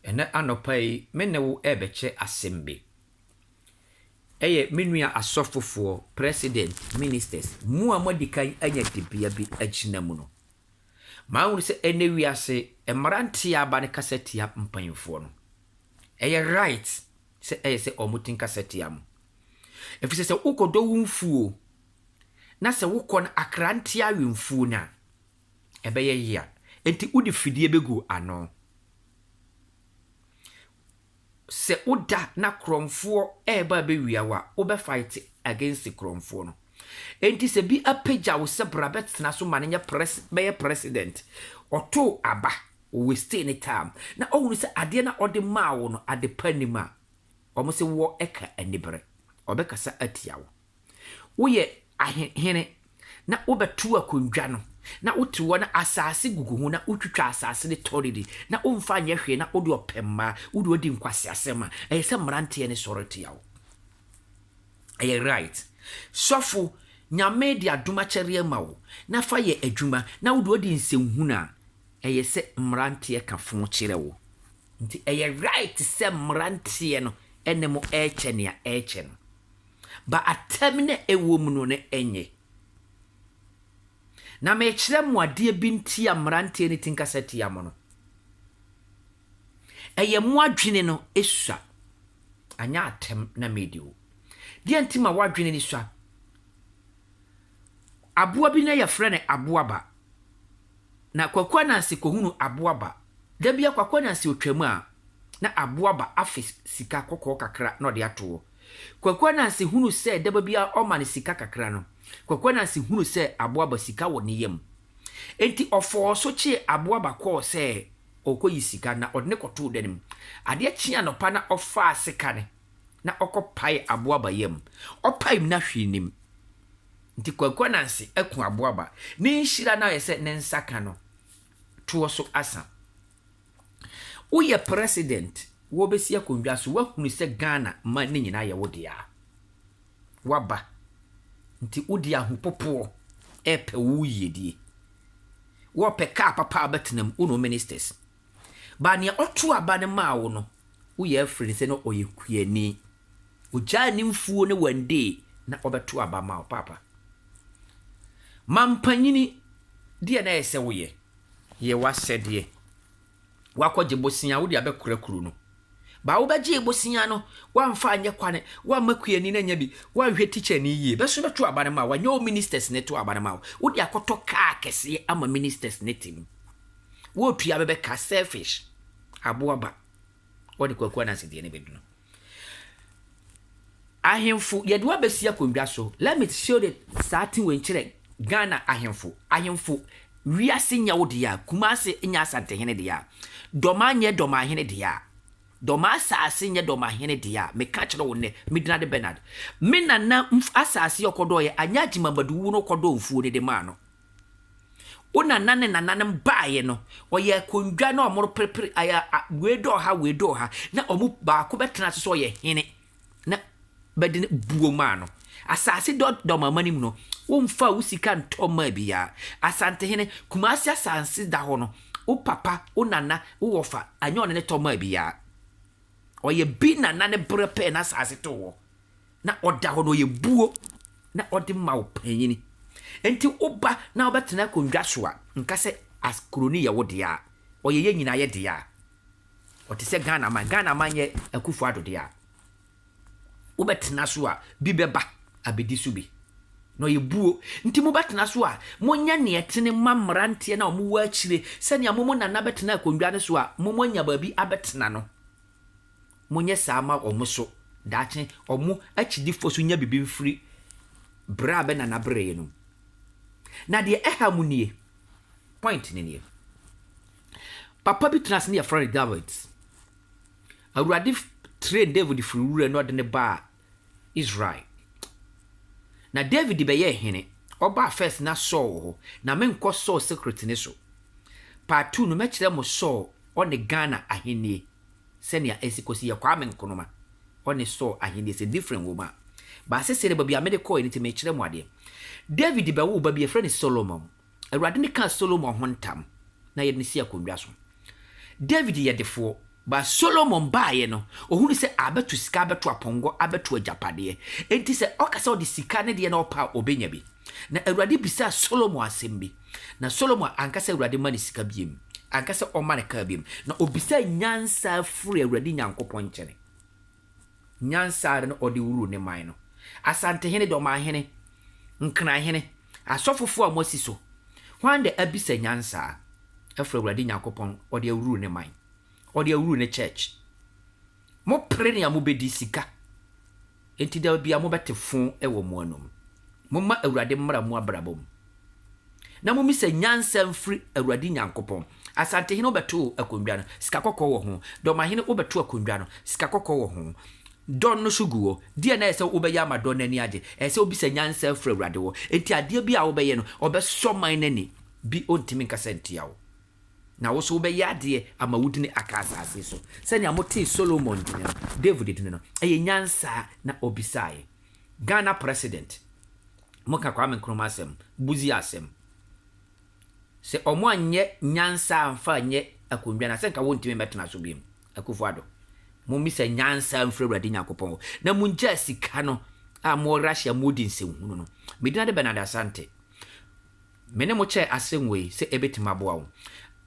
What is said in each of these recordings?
Ɛnnɛ anɔpa yi me ne wo rebɛkyɛ asɛm bi. Ɛyɛ me nua asɔfofoɔ, president, ministers, mo a moadi kan anya dibea bi agyina mu no. Mahunu sɛ ɛnnɛ wiase mmara ntea aba no kasa tia mpanyimfoɔ no. Ɛyɛ right sɛ ɛyɛ sɛ wɔn ti nkasa tia mo. Ɛfiri sɛ sɛ wokɔdɔ wo mfuo na sɛ wokɔ no akra ntea we mfuo no a, ɛbɛyɛ yea. Enti wode fidie bɛgu ano. Sɛ woda na korɔmfoɔ reba abɛwia wo a, wobɛ fight against korɔmfoɔ no. Enti sɛ bi apagya wo sɛ bra bɛtena so ma no nyɛ pres bɛyɛ president, ɔtoo aba, o wastee ne time, na ɔhunu sɛ adeɛ no a ɔde maa wo no adepa nnim a, wɔn se woɔ ɛka anibere, ɔbɛkasa atia wo. Woyɛ ahe hene, na wobɛtow akongua no, na wote hɔ na asase gugu ho, na wotwitwa asase ne tɔredi, na womfa nyɛ hwee, na wode ɔpɛ mmaa, wo de wadi nkwaseasɛm a, ɛyɛ sɛ mmeranteɛ no sɔre tia wo. Ɛyɛ right. Sɔfo, Nyame de adom akyɛdeɛ ama wo, na fa yɛ adwuma, na wo de wadi nsɛnhunu a, ɛyɛ sɛ mmeranteɛ ka fo kyerɛ wo. Nti ɛyɛ right sɛ mmeranteɛ no ne mo rekyɛ nea ɛrekyɛ no. ba atɛm na ɛwɔ mu no ne ɛnye. Na mekyerɛ mo adeɛ bi nti a mmeranteɛ no ti nkasa tia mo no. Ɛyɛ mo adwene no sua, anyɛ atɛm na medi wo. Deɛ nti ma w'adwene no sua. Aboa bi na yɛfrɛ no aboaba. na Kwaku Ananse kɔhunu Aboaba. Da bi a Kwaku Ananse ɔtwaam a, na Aboaba afe sika kɔkɔɔ kakra na ɔde ato hɔ. Kwaku Ananse hunu sɛ daba biara ɔma no sika kakra no, Kwaku Ananse hunu sɛ Aboaba sika wɔ ne yam. Enti ɔfɔɔ so kyee Aboaba kɔɔ sɛ ɔrekɔyi sika na ɔde no kɔtoo dan mu. Adeɛ kyee anɔpa na ɔfaa seka no na ɔkɔpaee Aboaba yam. Ɔpaem no ahwee nnim. Nti Kwaku Ananse aku aboaba. Ne nhyira no ayɛ sɛ ne nsa ka no toɔ so asa. Woyɛ president, wɔbɛsi akonnwa so, woahunu sɛ Ghana ma no nyinaa yɛ wo dea. Woaba, nti wode ahopopoɔ repɛ wo yiedie. Wɔpɛ car papa a bɛtenam, wo ne wo ministers. But nea ɔtoo aba no maa wo no, woyɛ afiri no sɛ na ɔyɛ kuani. Ogyaa ne mfuo no one day na ɔbɛto aba ma wo paapa. Mampanyini, deɛ na ɛyɛ sɛ woyɛ? Yɛ w'asɛdeɛ. Woakɔgye bosea, wode abɛkora kuro no. Ba wobɛgyee bosea no, woamfa anyɛ kwane, woamma kuani no anya bi, woanhwɛ tikyani yie. Bɛ so bɛto aba no ma wo, ɛnyɛ wo ministers na ɛto aba no ma wo. Wode akɔtɔ kaa kɛseɛ ama ministers no te mu. Wotua bɛbɛ ka selfish. Aboa ba. Wɔde kwaku anansi deɛ ne bɛdunu. Ahemfo yɛde wabɛsi akonnwa so. Let me show the saa ti wei nkyerɛ Ghana ahemfo. Ahemfo wiase nyɛ wo deɛ a, Kumase nyɛ Asantehene deɛ a, Dɔma nyɛ Dɔmahene deɛ a, Dɔma asase nyɛ Dɔmahene deɛ a, meka kyerɛ wo nnɛ, Midinade Bernard. Me nana asase ɔkɔdɔɔyɛ anyɛ Agyemamadu wuo no ɔkɔdɔɔ mfuo no de maa no. Wo nana ne nananom baeɛ no, ɔyɛ akondwa na wɔreperepere ayɛ a, wei dɔɔ ha, wei dɔɔ ha, na wɔn mu baako bɛtena ase sɛ ɔyɛ hene na bɛde no buo maa no. Asase dɔ dɔm amanim no, womfaa wo sika ntɔ mmaa biara. Asantehene, Kumasi asase da hɔ no, wo papa, wo nana, wo wɔfa, anyɛ ɔne no tɔ maa biara. Ɔyɛ bi nana ne berɛ pɛɛ na asase too hɔ. na ɔda hɔ na ɔyɛ buo na ɔde ma wo panyini. Nti woba na wobɛtena akonnwa so a, nka sɛ as kuro no yɛ wo dea a, ɔyɛ yɛn nyinaa yɛ dea a, ɔte sɛ Ghana man, Ghana man yɛ Akufo Addo dea a, wobɛtena so a, bi bɛba abɛdi so bi na ɔyɛ buo. Nti mobɛtena so a, monyɛ nea ɛtene ma mmeranteɛ na wɔwɔ akyire sɛnea mo mo nana bɛtena akonnwa no so a, mo mo anya baabi abɛtena no. Monyɛ saa ma wɔn nso, daakye wɔn akyidifoɔ nso nya biribi mfiri berɛ a bɛnana bereeɛ no mu. Na deɛ ɛha mu nie, point no nie, papa bi tenaa ase ne yɛfrɛ no David. Awurade train David firi wura na ɔde no baa Israel. Na David bɛyɛɛ hene, ɔbaa first na Saul wɔ hɔ. Na menkɔ Saul secret no so. Part two no mɛkyerɛ mo Saul ɔne Ghana ahennie. sɛnea esi kosi yɛ Kwame Nkrumah ɔne Saul ahenni sɛ different wom a, b'asese ne baabi a mede kɔe no nti merekyerɛ mo adeɛ. David bɛwoo ba bi, yɛfrɛ no Solomon. Awurade no kaa Solomon ho ntam na yɛde no sii akondwa so. David yɛ defoɔ. But Solomon baeɛ no, ɔhunu sɛ abɛto sika, abɛto apɔnkɔ, abɛto agyapadeɛ. Enti sɛ ɔka sɛ ɔde sika ne deɛ na ɔpɛ a, ɔbɛnya bi. Na Awurade bisaa Solomon asɛm bi. Na Solomon anka sɛ Awurade mma no sika biom, anka sɛ ɔmma no kaa biom, na ɔbisaa nyansa firii Awurade Nyankopɔn nkyɛne. Nyansa ara na ɔde woruu ne man no, asantehene, dɔmanhene, nkranhene, asɔfofoɔ a moasi so, hwan na abisa nyansa afiri Awurade Nyankopɔn, ɔde awuruu ne man, ɔde awuruu ne church. Mopere nea mobɛdi, sika, enti da biara mobɛte fo wɔ mo anom. Momma Awurade mmra mo abrabɔ mu, na mommisa nyansa mfiri Awurade Nyankopɔn. Asantehene wobɛto akondwa no, sika kɔkɔɔ wɔ ho, dɔmahene wobɛto akondwa no, sika kɔkɔɔ wɔ ho. Dɔn no so gu hɔ. Deɛn na ɛyɛ sɛ wobɛyɛ ama dɔn no ani agye? Ɛyɛ sɛ wobisa nyansa afiri Awurade hɔ. Enti adeɛ biara a wobɛyɛ no, ɔbɛsɔ man no ani. Bi ɔntumi nkasa ntia wo. Na wo nso wobɛyɛ adeɛ ama wo dini aka asase so, sɛnea motee Solomon dini no, David dini no. Ɛyɛ nyansa na ɔbisaeɛ. Ghana President, moka Kwame Nkrumah asɛm, Busia asɛm. Sɛ wɔanyɛ nyansa amfa anyɛ akonnwa no a, sɛ nka wɔntumi mmɛtena so bio. Akufo Addo, mommisa nyansa mfiri Awurade Nyankopɔn hɔ, na mongyaa sika no a mowɔ Russia mu redi nsɛnhunu no. Me din ade Bernard Asante. Me ne mo kyɛɛ asɛm wei sɛ ɛbɛtumi aboa wo.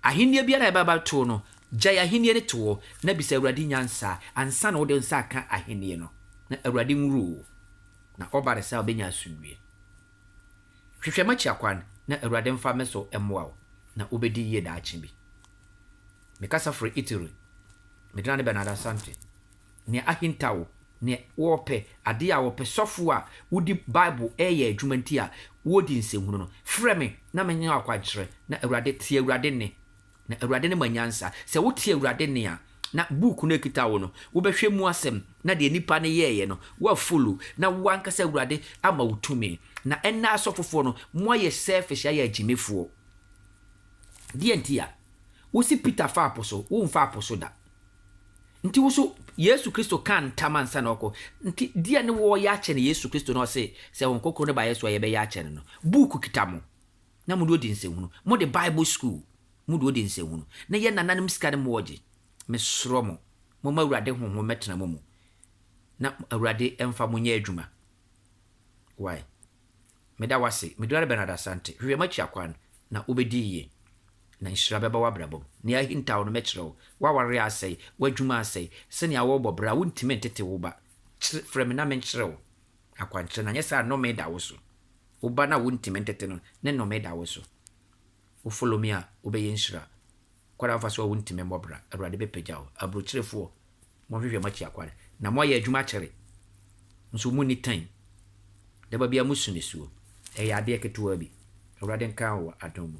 Ahennie biara a ɛbɛba bɛto wo no, gyae ahennie no to hɔ na bisa Awurade nyansa ansa na wode wo nsa aka ahennie no, na Awurade nwuru wo, na ɔba no saa a wobɛnya asomdwie. Hwehwɛ m'akyi akwan na Awurade mfa me so mmoa wo, na wobɛdi yie daakye bi. Mekasa firi Italy. Medina ne Bernard Asante. nea ahintaw, nea wɔpɛ, ade a wɔpɛ, sɔfo a wodi Bible reyɛ adwuma nti a wɔredi nsɛnhunu no, frɛ me na menyɛ wo akwankyerɛ, na Awurade, tie Awurade nne, na Awurade ne ma nyansa. Sɛ wotie Awurade nne a, na book no a ɛkita wo no, wobɛhwɛ mu asɛm, na deɛ nnipa no yɛeɛ no, woafollow, na wo ankasa Awurade ama wo tumi. Na ɛnnɛ asɔfofoɔ no, moayɛ selfish ayɛ agyimifoɔ. Deɛ nti a? Wose Peter faa po so, womfaa po so da. Nti woso Yesu Kristo kaa ntam ansa na ɔkɔ. Nti deɛ ne wɔɔyɛ akyɛ no Yesu Kristo na ɔse sɛ Hon Krokron no ba yɛ so a yɛbɛyɛ akyɛ no no. Book kita mo na mode odi nsɛnhunu. Mode Bible school mode odi nsɛnhunu. Na yɛ nananom sika ne moɔgye. Mesrɔ mo, momma Awurade Honhom mmɛtena mo mu na Awurade mfa mo nyɛ adwuma. Wai. Meda wo ase, me Duane Bernard Asante. Hwehwɛ m'akyi akwan, na wobɛdi yie, na nhyira bɛba w'abrabɔ mu. Nea ahintaw no, mɛkyerɛ wo. W'awareɛ asɛe, w'adwuma asɛe, sɛnea worebɔ bra a, wontumi ntete wo ba. Kyere, frɛ me na menkyerɛ wo akwankyerɛ, na anyɛ saa a nnome da wo so. Wo ba no a wontumi ntete no, ne nnome da wo so. Wo follow me a, wobɛyɛ nhyira. Kwan a wofa so a wuntumi mmɔ bra, Awurade bɛpagya wo. Aburokyerefoɔ, moahwehwɛ mo akyi akware, na moayɛ adwuma akyɛre, nso monni tan. Daba biara mosu nisuo, ɛyɛ adeɛ ketewaa bi. Awurade nka wo wɔ adom mu.